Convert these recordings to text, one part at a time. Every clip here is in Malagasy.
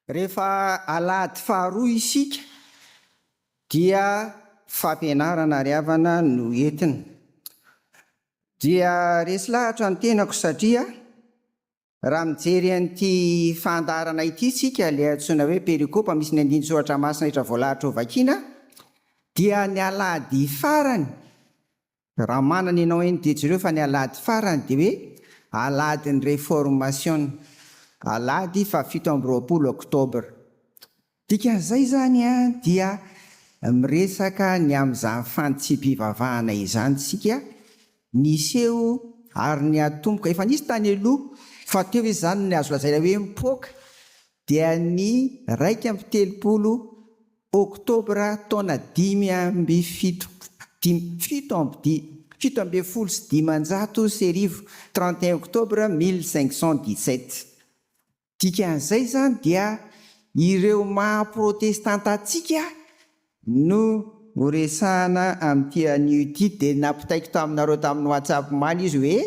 Rehefa alahady faharoa isika dia fampianarana ry havana no entina. Dia resy lahatra ny tenako satria Raha mijery an'ity fahandaharana ity isika, ilay antsoina hoe perikopa misy ny andinin-tsoratra masina rehetra voalahatra ho vakiana, dia ny alahady farany, raha manana ianao eny dia jereo fa ny alahady farany dia hoe alahadin'ny reformasiona, alahady fahafito amby roapolo oktobra. Dikan'izay izany dia miresaka ny amin'izany fanitsipivavahana izany isika niseho ary niatomboka, efa nisy tany aloha fa teo izany ny azo lazaina hoe mipoaka dia ny iraika amby telopolo oktobra taona dimy amby fito fito ambin'ny folo sy dimanjato sy arivo, trente et un octobre mille cinq cent dix-sept. Dikan'izay izany dia ireo maha protestanta antsika no horesahana amin'ity anio ity dia nampitaiko taminareo tamin'ny WhatsApp omaly izy hoe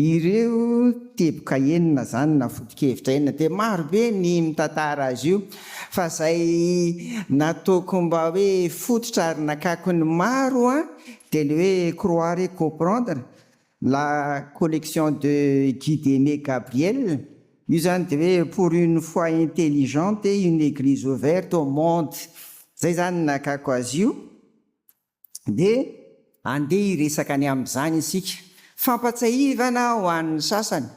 ireo teboka enina izany na foto-kevitra enina dia maro be ny mitantara azy io fa izay nataoko mba hoe fototra ary nakako ny maro dia ilay hoe croire et comprendre La collection de Guide Aimé Gabriel, io zany de hoe pour une foi intelligente et une eglise ouverte au monde, zay zany ny nakako azy io, de. Andeha hiresaka ny amin'izany isika. Fampatsiahivana ho an'ny sasany,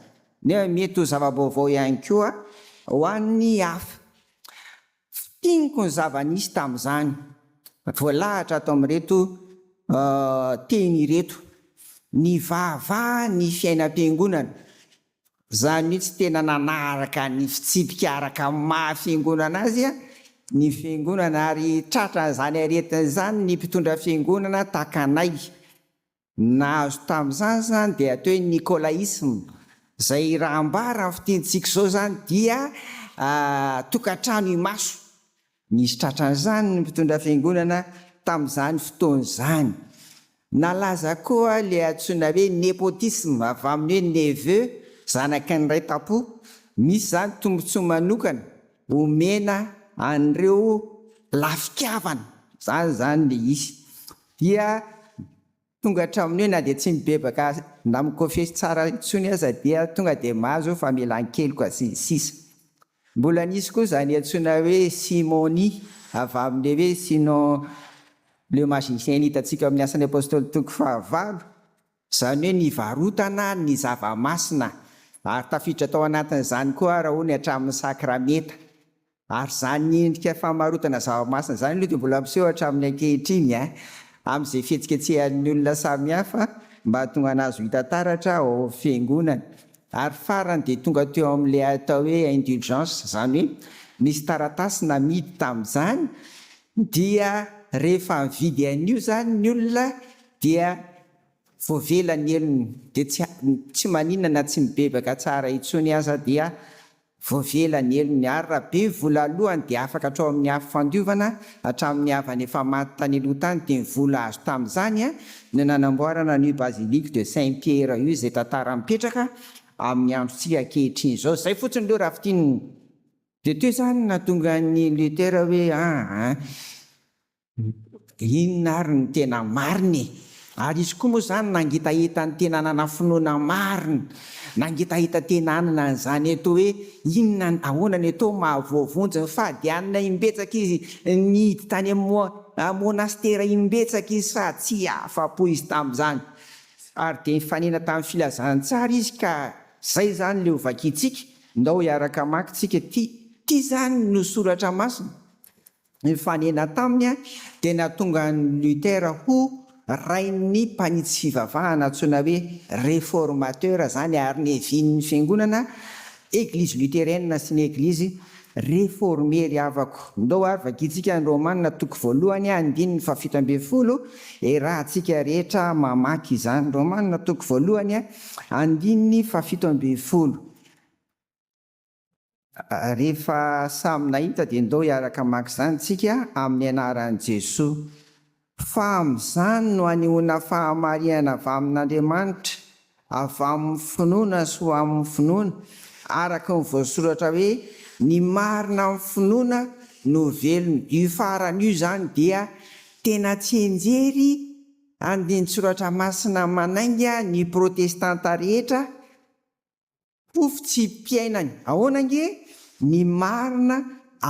nefa mety ho zava-baovao ihany koa ho an'ny hafa. Fintiniko ny zava-nisy tamin'izany voalahatra ato amin'ireto teny ireto, Nivavaha ny fiainam-piangonana, izany hoe tsy tena nanaraka ny fitsipika araka ny maha fiangonana azy ny fiangonana ary tratran'izany aretina izany ny mpitondra fiangonana tahaka anay. Ny nahazo tamin'izany izany dia atao hoe Nikolaisma, izay raha ambara amin'ny fitenintsika izao izany dia tokantrano imaso. Nisy tratran'izany ny mpitondra fiangonana tamin'izany fotoana izany. Nalaza koa ilay antsoina hoe nepotisme, avy amin'ny hoe neveu, zanaky ny ray tam-po. Misy izany tombontsoa manokana omena an'ireo lafi-kavana, izany izany ilay izy. dia tonga hatramin'ny hoe na dia tsy mibebaka na mikôfesy tsara intsony aza dia tonga dia mahazo famelan-keloka sy ny sisa Mbola nisy koa izany antsoina hoe simonie avy amin'ilay hoe Sinon le magicien hitantsika ao amin'ny Asan'ny Apôstôly toko fahavalo, izany hoe ny varotana ny zava-masina ary tafiditra tao anatin'izany koa ara hono hatramin'ny sakramenta. Ary izany endrika famarotana zava-masina izany aloha dia mbola miseho hatramin'ny ankehitriny amin'izay fihetsiketsehan'ny olona samihafa mba hahatonga an'azy ho hita taratra ao amin'ny fiangonana. Ary farany dia tonga teo amin'ilay atao hoe indulgence, izany hoe nisy taratasy namidy tamin'izany dia rehefa nividy an'io izany ny olona dia voavela ny helony dia tsy tsy maninona na tsy mibebaka tsara intsony aza dia Vao vela ny helony ary raha be vola alohany dia afaka hatrao amin'ny afo fandiovana hatramin'ny havany efa maty tany aloha tany dia ny vola azo tamin'izany no nanamboarana an'io basilique de Saint Pierre io izay tantara mipetraka amin'ny androntsika ankehitriny izao. Izay fotsiny aloha raha fintinina. Dia teo izany no nahatonga an'i Luther hoe, Aa. Inona ary ny tena marina e? Ary izy koa moa izany nangitahita ny tena nanana finoana marina, nangitahita tena hanana an'izany eto hoe inona, ahoana ny atao maha voavonjy ny fahadianana imbetsaka izy, nihidy tany amin'ny monastera imbetsaka izy sa tsy afa-po izy tamin'izany? Ary dia nifanena tamin'ny filazantsara izy ka izay izany ilay ho vakintsika, ndao hiaraka hamaky tsika ity, ity izany no soratra masina. Nifanena taminy dia nahatonga an'i Luther ho rain'ny mpanitsy fivavahana antsoina hoe Reformateur izany ary nihavian'ny fiangonana Eglizy Lutherienne sy ny Eglizy Reformée ry havako. Ndao ary vakintsika ny Romana toko voalohany andininy fahafito ambin'ny folo e rahantsika rehetra mamaky izany. Romana toko voalohany andininy fahafito ambin'ny folo. Rehefa samy nahita dia ndao hiaraka maka izany tsika amin'ny anaran'i Jesoa. Fa amin'izany no anehoana fahamarinana avy amin'Andriamanitra, avy amin'ny finoana sy ho amin'ny finoana, araka ny voasoratra hoe ny marina amin'ny finoana no velona. Io farany io izany dia tena tsianjery andinin-tsoratra masina manainga ny protestanta rehetra Pofy tsy mpiainany ahoana ange ny marina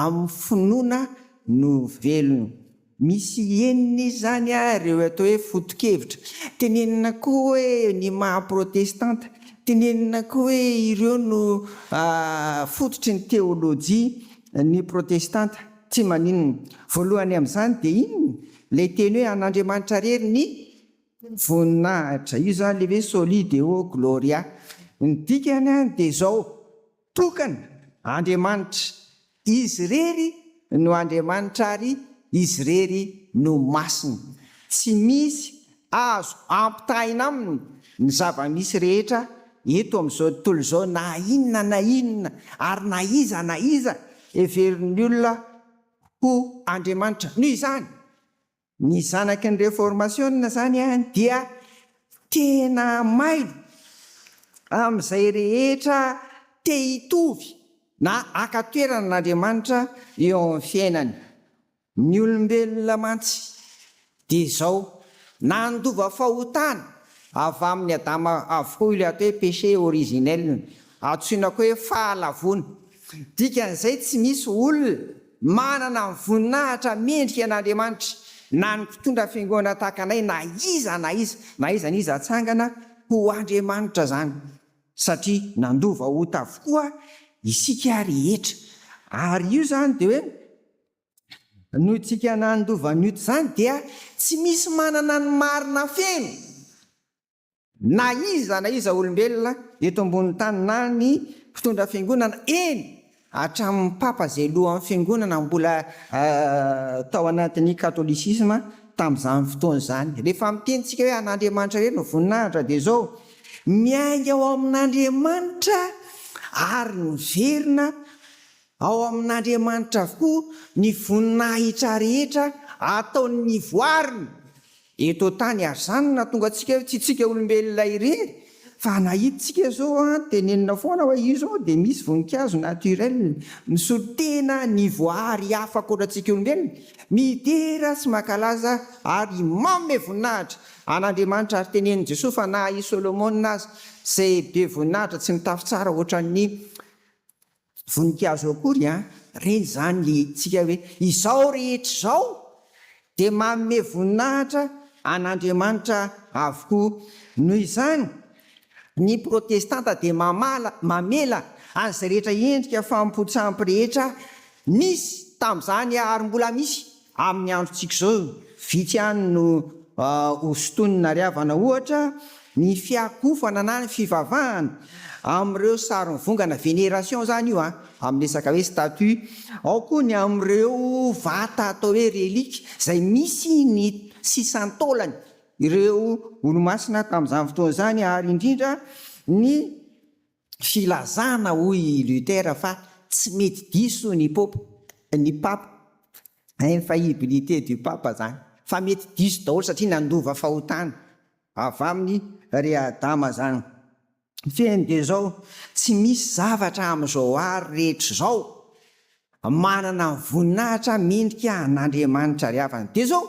amin'ny finoana no velona. Misy enina izany ary ireo atao hoe foto-kevitra. Tenenina koa hoe ny maha protestanta. Tenenina koa hoe ireo no fototry ny teolojia, ny protestanta. Tsy maninona. Voalohany amin'izany dia inona? Ilay teny hoe an'Andriamanitra rery ny Voninahitra. Io zany le hoe Soli Deo Gloria. Ny dikany any dia izao, tokana, Andriamanitra. Izy irery no Andriamanitra ary Izy irery no masina. Tsy misy azo ampitahaina aminy ny zava-misy rehetra eto amin'izao tontolo izao na inona na inona ary na iza na iza heverin'ny olona ho Andriamanitra. Noho izany, Ny zanaky ny reformasiona zany an dia tena may amin'izay rehetra te hitovy na haka toerana an'Andriamanitra eo amin'ny fiainany. Ny olombelona mantsy dia izao, nandova fahotana avy amin'ny Adama avokoa ilay atao hoe péché originel. Antsoina koa hoe fahalavoana. Dikan'izay tsy misy olona manana ny voninahitra mendrika an'Andriamanitra, na ny mpitondra fiangonana tahaka anay na iza na iza na iza na iza atsangana ho andriamanitra izany, satria nandova ota avokoa isika rehetra. Ary io izany dia hoe noho isika nandova ny ota izany dia tsy misy manana ny marina feno. Na iza na iza olombelona eto ambonin'ny tany na ny mpitondra fiangonana, eny hatramin'ny papa izay lohan'ny fiangonana mbola tao anatin'ny katolisisma tamin'izany fotoana izany. Rehefa miteny isika hoe an'Andriamanitra irery ny voninahitra dia izao, miainga ao amin'Andriamanitra ary miverina Ao amin'Andriamanitra avokoa ny voninahitra rehetra ataon'ny voariny eto an-tany ary izany no nahatonga antsika tsy isika olombelona irery fa na hitantsika izao tenenina foana hoe io izao dia misy voninkazo naturel misolo tena ny voary hafa ankoatra antsika olombelona midera sy mankalaza ary manome voninahitra an'Andriamanitra ary tenenin'i Jesoa fa na i Solomona aza izay be voninahitra tsy nitafy tsara ohatran'ny Voninkazo akory an! Reny izany le hetsika hoe izao rehetra izao dia manome voninahitra an'Andriamanitra avokoa. Noho izany, ny Protestanta dia mamala, mamela an'izay rehetra endrika famopotsam-po rehetra nisy tamin'izany ary mbola misy Amin'ny androntsika izao, vitsy ihany no ho sintoniny na ariavana, ohatra, ny fiakofana na ny fivavahana amin'ireo saron'ny vongana, vénération izany io amin'ny resaka hoe statue. Ao koa ny amin'ireo vata atao hoe relique izay misy ny sisan-taolany ireo olomasina tamin'izany fotoana izany ary indrindra ny Filazana, hoy i Luther, fa tsy mety diso ny pope, ny papa, infaillibilité du pape zany, fa mety diso daholo satria nandova fahotana avy aminy ry Adama zany. Fehiny dia zao, tsy misy zavatra amizao aro rehetra zao manana voninahitra mendrika an'Andriamanitra ry havana. Dia zao,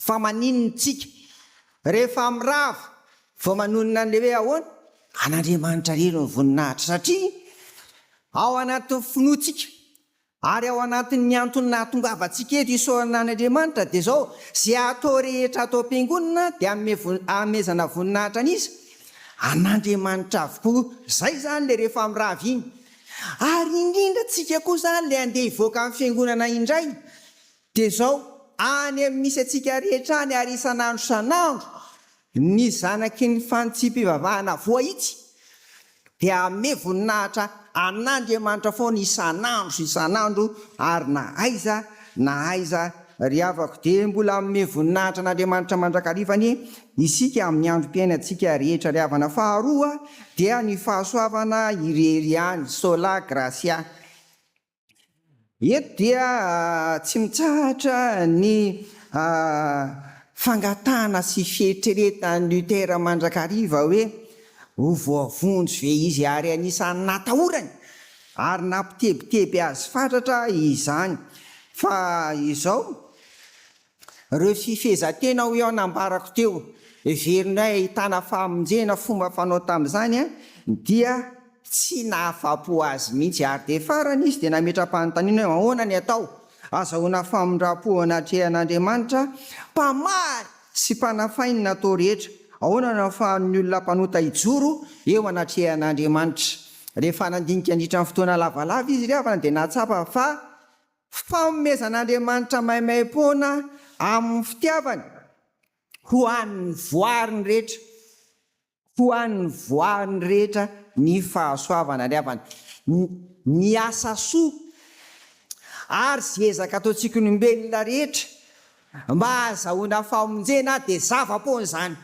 Fa maninona isika rehefa mirava vao manonona an'ilay hoe ahoana? An'Andriamanitra irery ny voninahitra satria ao anatin'ny finoantsika ary ao anatin'ny antony nahatongavantsika eto isaorana an'Andriamanitra dia izao, izay atao rehetra atao am-piangonana dia anomezana voninahitra an'iza? An'Andriamanitra avokoa. Izay izany ilay rehefa mirava iny. Ary indrindra isika koa izany ilay handeha hivoaka amin'ny fiangonana indray. Dia izao, any amin'ny misy antsika rehetra any ary isan'andro isan'andro, ny zanaky ny fanitsipivavahana voahitsy dia hanome voninahitra an'Andriamanitra foana isan'andro isan'andro ary na aiza na aiza ry havako dia mbola hanome voninahitra an'Andriamanitra mandrakariva anie isika amin'ny androm-piainantsika rehetra ry havana faharoa dia ny fahasoavana irery ihany sola gratia Eto dia tsy mitsahatra ny fangatahana sy fieritreretan'i Luther mandrakariva hoe ho voavonjy ve izy ary anisan'ny natahorany ary nampitebiteby azy fatratra izany fa izao Ireo fifehezan-tena hoy aho nambarako teo, heverinay ahitana fahamonjena fomba fanao tamin'izany dia tsy nahafapo azy mihitsy ary dia farany izy dia nametra-panontaniana hoe ahoana ny atao azahoana famindram-po eo anatrehan'Andriamanitra mpamaly sy mpanafay ny natao rehetra? Ahoana no ahafahan'ny olona mpanota hijoro eo anatrehan'Andriamanitra? Rehefa nandinika nandritra ny fotoana lavalava izy ry havana dia nahatsapa fa Fanomezan'Andriamanitra maimaim-poana amin'ny fitiavany ho an'ny voariny rehetra, ho an'ny voariny rehetra ny fahasoavana ny havany, ny asa soa ary izay ezaka ataontsika olombelona rehetra mba hahazahoana famonjena dia zava-poana izany.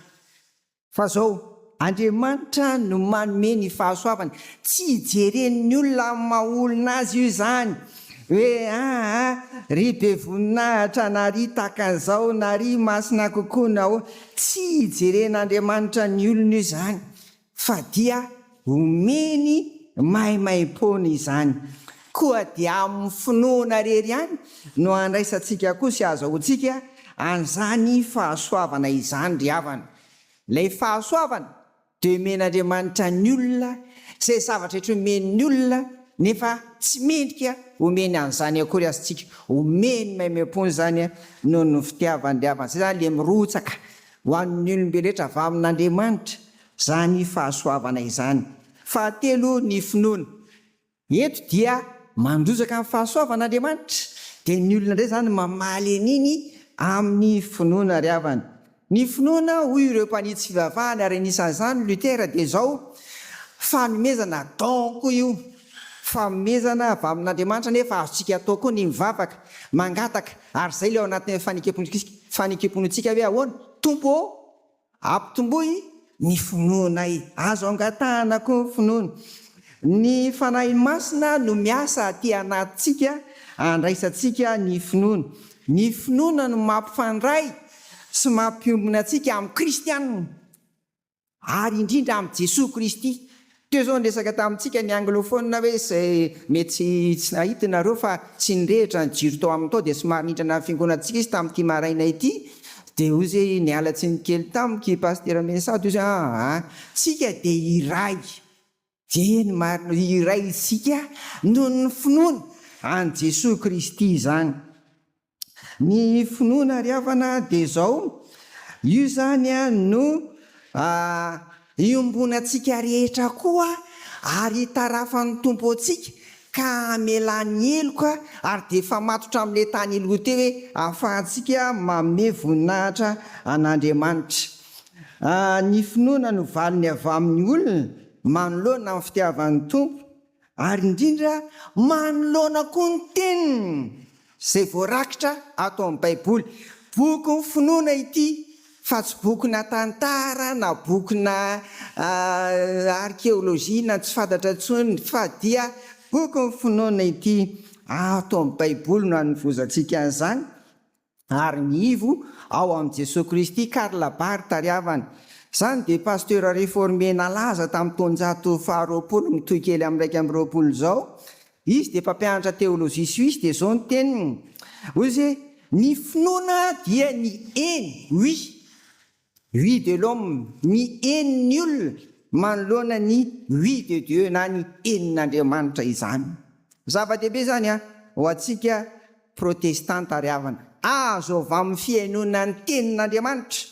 Fa zao, Andriamanitra no manome ny fahasoavany, tsy hijeren'ny olona amin'ny maha olona azy io izany, hoe aa ry be voninahitra na ry tahaka an'izao na ry masina kokoa na ahoana, tsy hijeren'Andriamanitra ny olona io izany fa dia Omeny maimaimpoana izany. Koa dia amin'ny finoana irery ihany no handraisantsika koa sy hahazoantsika an'izany fahasoavana izany ry havana. Ilay fahasoavana dia omen'Andriamanitra ny olona izay zavatra rehetra omeny ny olona nefa tsy mendrika homeny an'izany akory aza isika. Omeny maimaimpoana izany noho ny fitiavany ry havana. Izay izany ilay mirotsaka ho an'ny olombelona rehetra avy amin'Andriamanitra izany fahasoavana izany. Fahatelo, ny finoana. Eto dia mandrozaka ny fahasoavan'Andriamanitra, dia ny olona indray izany mamaly an'iny amin'ny finoana ary havany. Ny finoana, hoy ireo mpanitsy fivavahana ary anisan'izany Luther dia izao, fanomezana, don, koa io. Fanomezana avy amin'Andriamanitra nefa azontsika atao koa ny mivavaka, mangataka, ary izay ilay ao anatin'ilay fanekem-pontsika hoe ahoana? Tompo ô! Ampitomboy ny finoanay. Azo angatahana koa ny finoana. Ny Fanahy Masina no miasa aty anatintsika handraisantsika ny finoana. Ny finoana no mampifandray sy mampiombona antsika amin'ny Kristianina ary indrindra amin'i Jesoa Kristy. Teo izao niresaka tamintsika ny anglophone hoe izay mety tsy nahita nareo fa tsy nirehitra ny jiro tao aminy tao dia somary nindrana ny fiangonantsika izy tamin'ity maraina ity dia hoy izy hoe niala tsiny kely tamiko i Pasitera Mensah dia hoy izy hoe aa tsika dia iray dia eny marina hoe iray isika noho ny finoana an'i Jesoa Kristy izany. Ny finoana ry havana dia izao, io izany no iombonantsika rehetra koa ary hitarafan'ny Tompo antsika ka hamelany heloka ary dia efa matotra amin'ilay tany aloha teo hoe ahafahantsika manome voninahitra an'Andriamanitra. Ny finoana no valiny avy amin'ny olona manoloana ny fitiavan'ny Tompo Ary indrindra, manoloana koa ny teniny izay voarakitra ato amin'ny Baiboly. Bokin'ny finoana ity, fa tsy bokina tantara na bokina arkeolojia na tsy fantatra intsony, fa dia bokin'ny finoana ity. Ato amin'ny Baiboly no anovozantsika an'izany. ary ny ivo ao amin'i Jesoa Kristy Karl Barth tariavany. Izany dia pasteur reformé nalaza tamin'ny taonjato faharoapolo mitohy kely amin'ny iraika amby roapolo izao. Izy dia mpampianatra teolojia suisse dia izao ny teniny, hoy izy hoe, Ny finoana dia ny eny, oui, Vue de l'homme, ny henon'ny olona manoloana ny vue de Dieu na ny henon'Andriamanitra izany. Zava-dehibe izany an! Ho antsika protestanta ry havana, azo avy amin'ny fihainoana ny tenin'Andriamanitra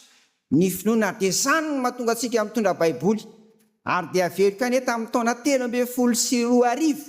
ny finoana dia izany no mahatonga antsika mitondra baiboly ary dia aveloka anie tamin'ny taona telo ambin'ny folo sy roa arivo.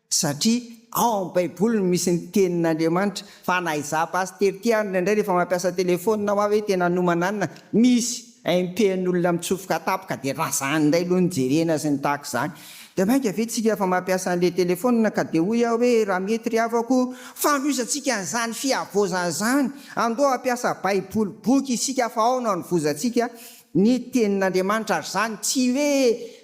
satria ao amin'ny baiboly no misy ny tenin'Andriamanitra, fa na izaho pasitera ity ary indraindray rehefa mampiasa telephone aho hoe tena hanomananina misy impen'olona mitsofoka tampoka dia razana indray aloha ny jerena sy ny tahaka izany dia mainka ve tsika efa mampiasa an'ilay telephone ka dia hoy aho hoe raha mety ry havako fanohizatsika an'izany fihavaozana izany andoha hampiasa baiboly boky isika fa ao no hanovozantsika Ny Tenin'Andriamanitra ary izany, tsy hoe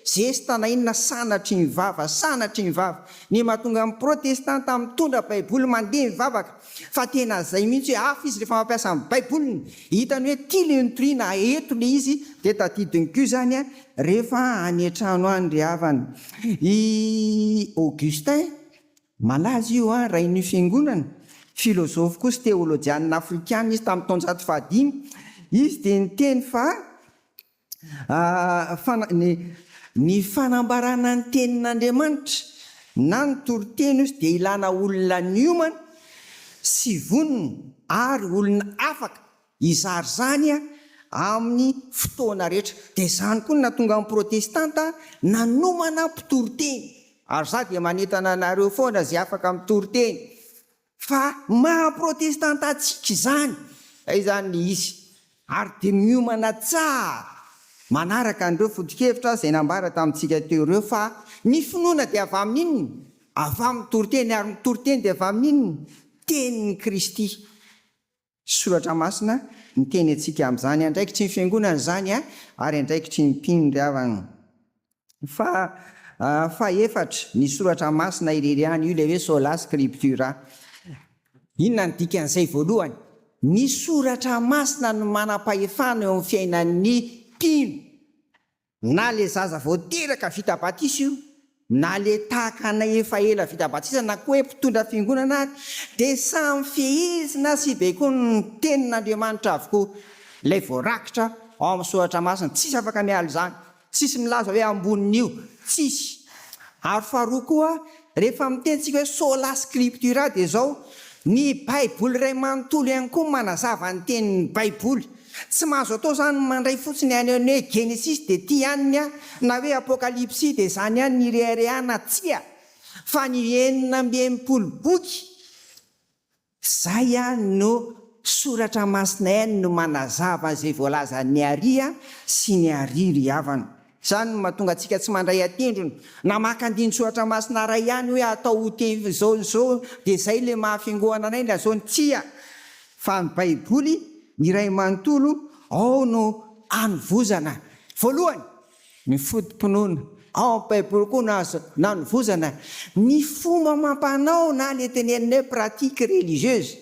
zesta na inona sanatry ny vava, sanatry ny vava. Ny mahatonga ny protestanta mitondra baiboly mandeha mivavaka, fa tena izay mihitsy hoe hafa izy rehefa mampiasa ny baiboliny, hitany hoe tia ilay nitoriana, eto ilay izy, dia tadidiny koa izany rehefa any an-trano any ry havana. I Augustin Malaza io an, rain'io fiangonana. Filozofy koa sy teolojianina afrikana izy tamin'ny taonjato fahadimy. Izy dia niteny fa ny ny fanambarana ny tenin'Andriamanitra na ny toriteny ozy dia ilana olona niomana sy vonona ary olona afaka. Hizara izany amin'ny fotoana rehetra. Dia izany koa no nahatonga ny Protestanta nanomana mpitory teny. Ary izaho dia manentana anareo foana izay afaka mitory teny, fa maha Protestanta antsika izany. Izay izany ilay izy. Ary dia miomana tsara manaraka an'ireo foto-kevitra izay nambara tamintsika teo ireo, fa ny finoana dia avy amin'ny inona? Avy amin'ny mitory teny, ary ny mitory teny dia avy amin'ny inona? Tenin'i Kristy. Soratra Masina miteny antsika amin'izany andraikitry ny Fiangonana izany ary andraikitry ny mpino ry havana. Fa fahefatra, ny Soratra Masina irery ihany, io ilay hoe Sola Scriptura. Inona ny dikan'izay? Voalohany, ny Soratra Masina no manam-pahefana eo amin'ny fiainan'ny mpino. Na le zaza vao teraka vita batisa io, na le tahaka anay efa ela vita batisa na koa hoe mpitondra fiangonana ary, dia samy fehezina sy baikoin' ny tenin' Andriamanitra avokoa ilay voarakitra ao amin' ny Soratra Masina. Tsisy afaka miala izany. Tsisy milaza hoe ambonin' io. Tsisy. Ary faharoa koa. Rehefa miteny tsika hoe sola scriptura dia izao, ny baiboly iray manontolo ihany koa manazava ny tenin'ny baiboly. Tsy mahazo atao izany ny mandray fotsiny ihany ny hoe genesisy dia ity ihany ny ahy na hoe apokalipsy dia izany ihany ny ireharehana, tsia, fa ny enina amby enimpolo boky Izay ihany no Soratra Masina ihany no manazava izay voalazan'ny Aria sy ny Aria ry havana. Izany no mahatonga antsika tsy mandray an-tendrony na maka andinin-tsoratra masina iray ihany hoe atao ho teny izao ny izao dia izay ilay maha fiangoana anay na izao ny tsia fa ny Baiboly iray manontolo ao no anovozana voalohany Ny foto-pinoana ao amin'ny Baiboly koa no azo nanovozana ny fomba amam-panao na ilay tenenina hoe pratique religieuse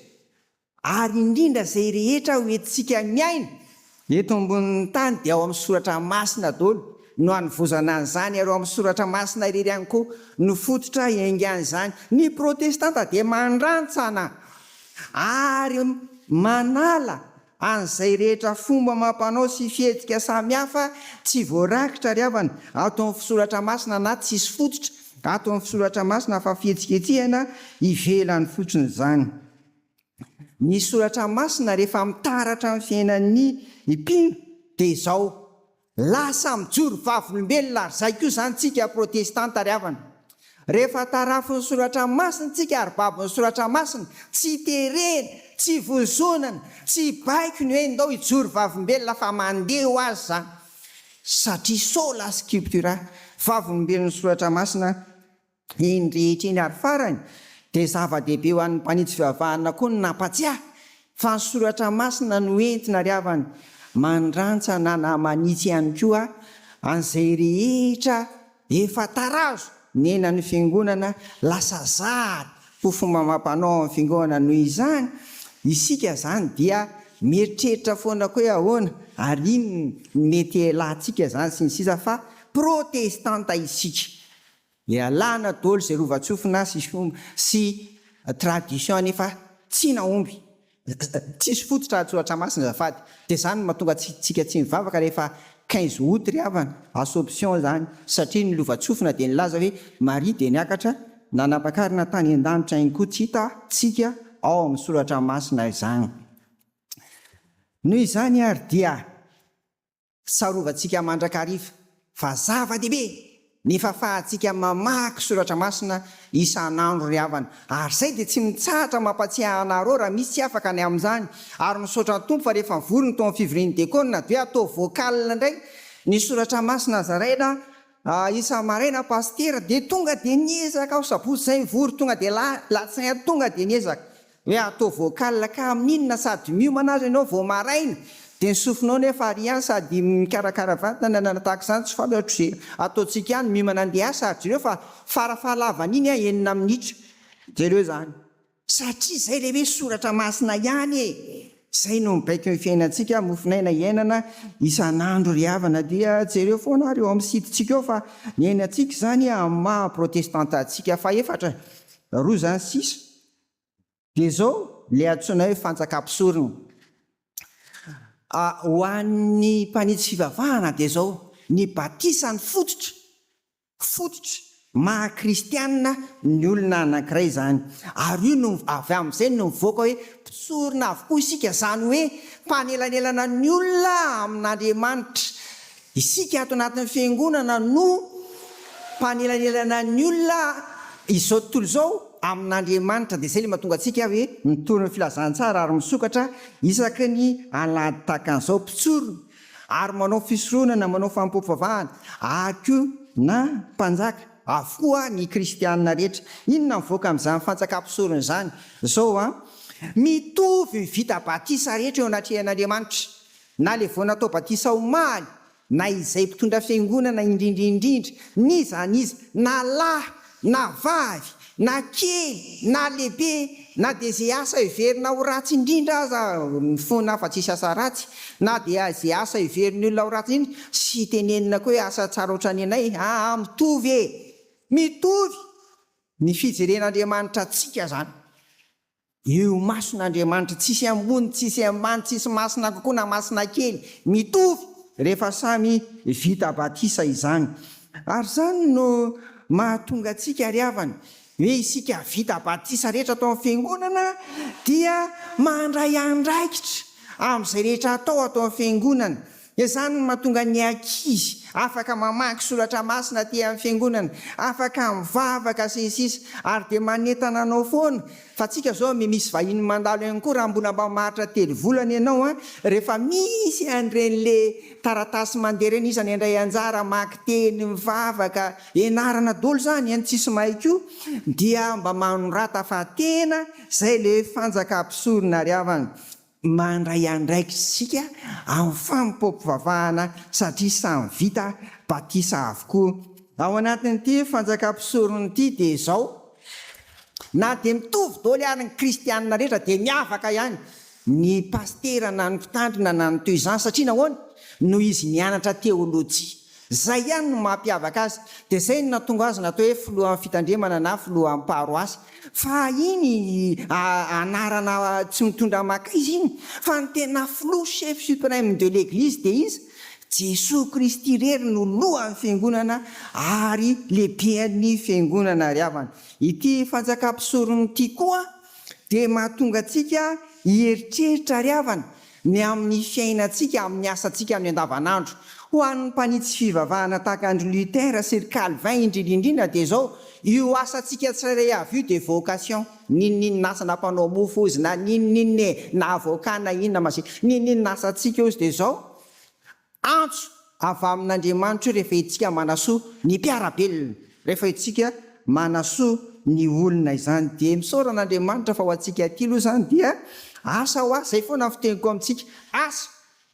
ary indrindra izay rehetra ho entintsika miaina eto ambonin'ny tany dia ao amin'ny soratra masina daholo no anovozana an'izany ary ao amin'ny soratra masina irery ihany koa no fototra iangan'izany. Ny protestanta dia mandrantsana ary manala An'izay rehetra fomba amam-panao sy fihetsika samy hafa tsy voarakitra ry havana ato amin'ny fisoratra masina na tsisy fototra ato amin'ny fisoratra masina fa fihetsiketsehana ivelany fotsiny izany. Ny soratra masina rehefa mitaratra amin'ny fiainan'ny mpino dia izao. Lasa mijoro vavolombelona ary izay koa izany tsika protestanta ry havana. Rehefa tarafin'ny soratra masina tsika ary babon'ny soratra masina, tsy terena, tsy vozonana, tsy baiko ny hoe ndao hijoro vavolombelona fa mandeha ho azy izany. Satria sola scriptura, vavolombelon'ny soratra masina, Iny rehetra iny ary farany dia zava-dehibe ho an'ny mpanitsy fivavahana koa ny nampatsiahy fa ny soratra masina no entina ry havana, mandrantsana na manitsy ihany koa an'izay rehetra efa tarazo nenan'ny fiangonana lasa zary ho fomba amam-panao ao amin'ny fiangonana noho izany isika izany dia mieritreritra foana koa hoe ahoana ary inona no mety hialantsika izany sy ny sisa fa protestanta isika Dia alana dolo izay lovantsofina sy fomba sy tradition any efa tsy nahomby. Tsisy fototra an-tsoratra masina azafady. Dia izany no mahatonga antsika tsy mivavaka rehefa quinze aout ry havana, assomption izany. Satria ny lovantsofina dia nilaza hoe Maria dia niakatra nanampakarina tany an-danitra any koa tsy hita tsika ao amin'ny soratra masina izany. Noho izany ary dia. Sarovantsika mandrakariva fa zava-dehibe ny fahafahantsika mamaky soratra masina isan'andro ry havana, ary izay dia tsy mitsahatra mampatsiahy anareo raha misy tsy afaka ny amin'izany, ary misaotra ny Tompo fa rehefa mivory ny tao amin'ny fivorian'ny diakona dia hoe atao vocal indray ny soratra masina zaraina isa-maraina pasitera dia tonga dia niezaka aho sabotsy izay mivory tonga dia alatsinainy tonga dia niezaka Hoe atao vocal ka amin inona sady miomana aza ianao vao maraina dia ny sofinao nefa ary ihany sady mikarakara vatana na tahaka izany tsy fantatro ze ataontsika ihany miomana andeha hiasa ary jereo fa fara fahalavany iny an enina minitra jereo izany satria zay le hoe soratra masina ihany e zay no mibaiko ny fiainantsika mofon'aina hiainana isan'andro ry havana dia jereo foana ary eo amin'ny sitintsika eo fa ny ainantsika izany amin'ny maha protestanta antsika fahefatra roa izany sisa Dia izao ilay antsoina hoe fantsaka mpisorona. Ho an'ny mpanitsy fivavahana dia izao, ny batisa no fototra, fototra maha kristiana ny olona anankiray izany. Ary io no, avy amin'izay no mivoaka hoe mpisorona avokoa isika, izany hoe mpanelanelana ny olona amin'Andriamanitra. Isika ato anatin'ny Fiangonana no mpanelanelana ny olona izao tontolo izao amin'Andriamanitra, dia izay ilay mahatonga antsika hoe mitory ny filazantsara ary misokatra isaky ny alahady tahaka an'izao, mpitsorona ary manao fisoronana, manao fanompoam-pivavahana ary koa na mpanjaka avokoa ny kristiana rehetra. Inona mivoaka amin'izany fanjakam-pisorona izany? Izao an, mitovy ny vita batisa rehetra eo anatrehan'Andriamanitra, Na le vao natao batisa omaly, na izay mpitondra fiangonana indrindra indrindra, n'iza n'iza, na lahy na vavy, na kely na lehibe, na dia ze asa heverina ho ratsy indrindra aza ny fona afa tsisy asa ratsy, na dia ze asa heverin'ny olona ho ratsy indrindra, sy tenenina koa hoe asa tsara otrany anay, aa mitovy e! mitovy ny fijeren'Andriamanitra antsika zany. Eo mason' Andriamanitra tsisy ambony tsisy ambany tsisy masina kokoa na masina kely, mitovy rehefa samy vita batisa izany. Ary izany no mahatonga antsika ry havana hoe isika vita batisa rehetra ato amin'ny Fiangonana dia mandray andraikitra amin'izay rehetra atao ato amin'ny Fiangonana. Izany no mahatonga ny ankizy afaka mamaky soratra masina aty amin'ny fiangonana, afaka mivavaka sy ny sisa ary dia manentana anao foana fa antsika izao misy vahiny mandalo ihany koa raha mbola mba maharitra telo volana ianao an, rehefa misy an'ireny le taratasy mandeha ireny iza no handray anjara, hamaky teny, mivavaka, ianarana daholo izany an, tsisy mahay koa dia mba manorata fa tena izay le fanjaka mpisorona ry havana. Mandray andraikitsika amin'ny fanompoam-pivavahana satria samy vita batisa avokoa ao anatin'ity fanjakam-pisorona ity dia izao, na dia mitovy doly ary ny kristianina rehetra dia miavaka ihany ny pasitera na ny mpitandrina na ny toy izany satria nahoana? noho izy nianatra teolojia Izay ihany no mampiavaka azy. Dia izay no nahatonga azy natao hoe filohan'ny fitandremana na filohan'ny paroasy. Fa iny anarana tsy mitondra makaiza iny. Fa ny tena filoha, chef supreme de l'Eglise dia iza? Jesoa Kristy irery no lohan'ny fiangonana ary lehiben'ny fiangonana ry havana. Ity fanjakam-pisorona ity koa dia mahatonga antsika hieritreritra ry havana, ny amin'ny fiainantsika, amin'ny asantsika, amin'ny andavanandro. Ho an'ny mpanitsy fivavahana tahaka an-dry Luther sy ry Calvin indrindra indrindra dia izao, io asantsika tsirairay avy io dia vocation. N'inon'inona asa na mpanao mofo hozy na n'inon'inona e, na avocat na inona ma si, n'inon'inona asantsika hozy dia izao, Antso avy amin'Andriamanitra io rehefa itsika manasoa ny mpiara-belona, rehefa itsika manasoa ny olona izany dia misaora an'Andriamanitra fa ho antsika aty aloha izany dia asa hoa izay foana ny fiteniko amintsika asa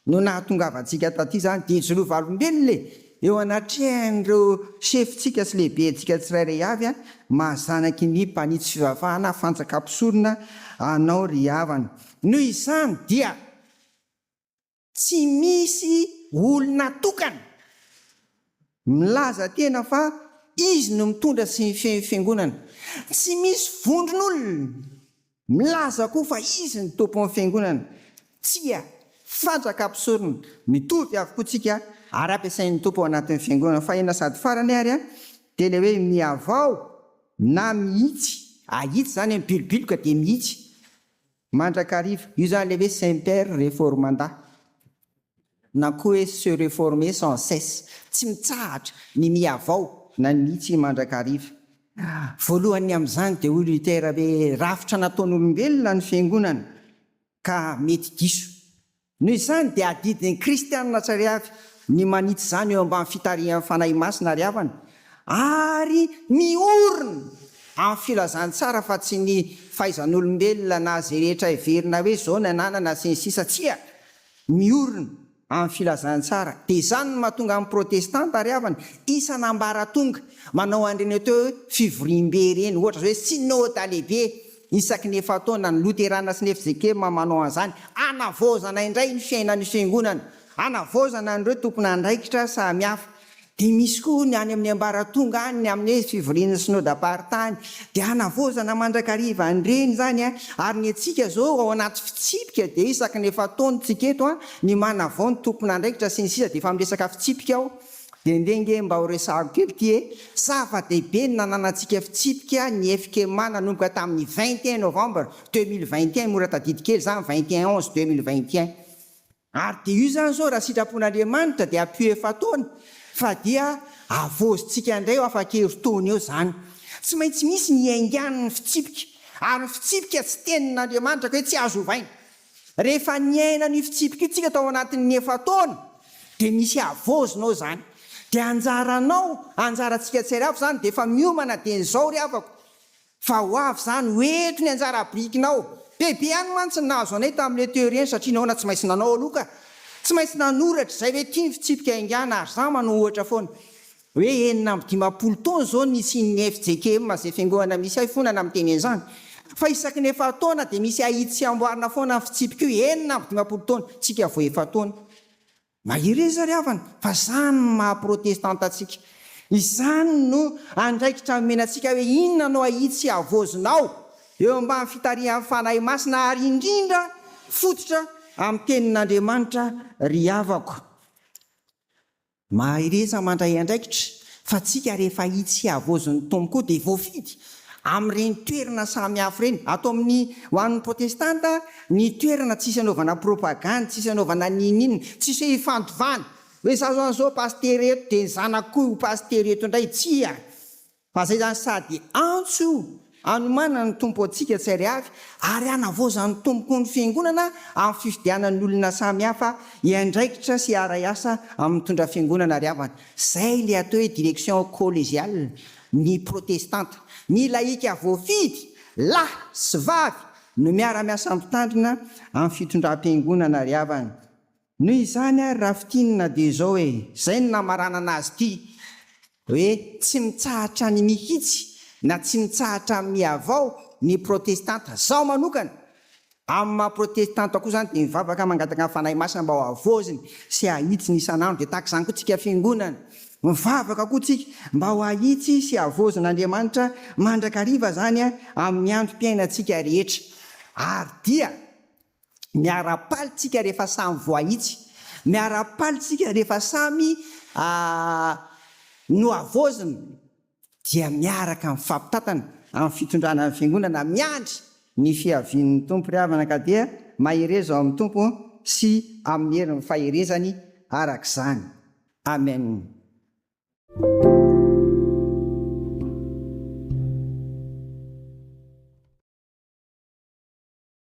no nahatongavantsika taty izany dia ijoroa valombelona e eo anatrehan'ireo sefotsika sy lehibentsika tsirairay avy a maha zanaky ny mpanitsy fivavahana fanjakam-pisorona anao ry havana noho izany dia Tsy misy olona tokana milaza tena fa izy no mitondra sy mifehy fiangonana. Tsy misy vondron'olona milaza koa fa izy no tompon'ny fiangonana. Tsia, fantsaka mpisorona mitovy avokoa tsika ary ampiasain'ny Tompo ao anatin'ny fiangonana. Fahina sady farany ary dia ilay hoe mihavao na mihitsy. Ahitsy izany hoe mibilobiloka dia mihitsy. Mandrakariva, io zany le hoe semper reformanda na koa hoe se reformer sans cesse, tsy mitsahatra ny mihavao. Na ny mihitsy i Mandrakariva. Voalohany amin'izany dia hoy Luther hoe rafitra nataon'olombelona ny fiangonana ka mety diso Noho izany dia adidin'ny kristiana tsary avy ny manitsy izany eo ambany fitarihan'ny Fanahy Masina ary havany ary miorina amin'ny filazantsara fa tsy ny fahaizan'olombelona na izay rehetra heverina hoe izao ny ananana sy ny sisa tsia miorina amin'ny filazantsara dia izany no mahatonga amin'ny protestanta ary havany isan'ambaratonga manao an'ireny atao hoe fivoriambe ireny ohatra izao hoe synôda lehibe Isaky ny efa-taona, ny Loterana sy ny FZK manao an'izany, hanavaozana indray ny fiainan'io fiangonana, hanavaozana an'ireo tompon'andraikitra samihafa. Dia misy koa ny any amin'ny ambaratonga any, ny amin'ny fivorian'ny Synodam-paritany. Dia hanavaozana mandrakariva an'ireny izany. Ary ny antsika izao ao anaty fitsipika, dia isaky ny efa-taona isika eto, ny manavao ny tompon'andraikitra sy ny sisa, dia efa miresaka fitsipika aho. Dia ndeha nge mba ho resahako kely ity e! Zava-dehibe ny nananantsika fitsipika ny FKMA nanomboka tamin'ny vingt et un novembre deux mille vingt et un, mora tadidy kely izany, vingt et un onze deux mille vingt et un. Ary dia io izany izao raha sitrapon'Andriamanitra dia ampio efa-taona fa dia havaozintsika indray eo afa-kerintaona eo izany. Tsy maintsy misy ny hiaingan'ny fitsipika, ary ny fitsipika tsy tenin'Andriamanitra ka hoe tsy azo ovaina. Rehefa niaina an'io fitsipika io tsika tao anatin'ny efa-taona dia misy havaozina ao izany. Dia anjaranao, anjarantsika tsiarihava izany dia efa miomana dia izao ry havako fa ho avy izany, ho eto ny anjara birikinao. Bebe ihany mantsy ny nahazo anay tamin'ireny teo ireny satria nahoana tsy maintsy nanao aloha ka. Tsy maintsy nanoratra izay hoe ity ny fitsipika haingana ary izaho manohitra foana. Hoe enina amby dimampolo taona izao ny nisian'ny fjkm izay fiangonana misy ahy fona na miteny an'izany. Fa isaky ny efa-taona dia misy ahitsy sy amboarina foana ny fitsipiko hoe enina amby dimampolo taona, tsika vao efa-taona. Mahereza ry havana fa izany no maha protestanta antsika. Izany no andraikitra nomena antsika hoe inona no ahitsy havaozinao eo ambany fitarihan'ny Fanahy Masina ary indrindra fototra amin'ny tenin'Andriamanitra ry havako. Mahereza mandray andraikitra fa tsika rehefa itsy havozin'ny Tompo koa dia voafidy amin'ireny toerana samy hafa ireny. Ato amin'ny ho an'ny protestanta ny toerana tsisy anaovana propagandy, tsisy anaovana n'inon'inona, tsisy hoe ifandovana hoe za zao an'izao pasitera eto dia ny zanako koa ho pasitera eto indray, tsia! Aza izany sady antso anomanana ny Tompo antsika tsy ary avy ary hanavaozan'ny Tompoko ny Fiangonana amin'ny fifidianany olona samy hafa hiandraikitra sy hiaray asa amin'ny mitondra Fiangonana ary havana. Izay ilay atao hoe direction collégiale ny Protestanta. Ny lahika voafidy, lahy sy vavy, no miara-miasa Mpitandrina amin'ny fitondram-piangonana ary havana. Noho izany ary Rafitinina dia izao e, izay no namaranana azy ity hoe tsy mitsahatra ny mihitsy na tsy mitsahatra amin'ny mihavao ny protestanta. Izaho manokana, amin'ny maha protestanta koa izany dia mivavaka mangataka ny Fanahy Masina mba ho havaoziny sy hahitsiny isan'andro. Dia tahaka izany koa tsika fiangonana, mivavaka koa tsika mba ho hahitsy sy havaozin'Andriamanitra mandrakariva izany amin'ny androm-piainantsika rehetra. Ary dia. Miara-paly tsika rehefa samy voahitsy. Miara-paly tsika rehefa samy nohavaozina dia miaraka mifampitantana amin'ny fitondrana ny Fiangonana miandry ny fiavian'ny Tompo ry havana ka dia mahereza ao amin'ny Tompo sy amin'ny herin'ny faherezany arak'izany. Amen.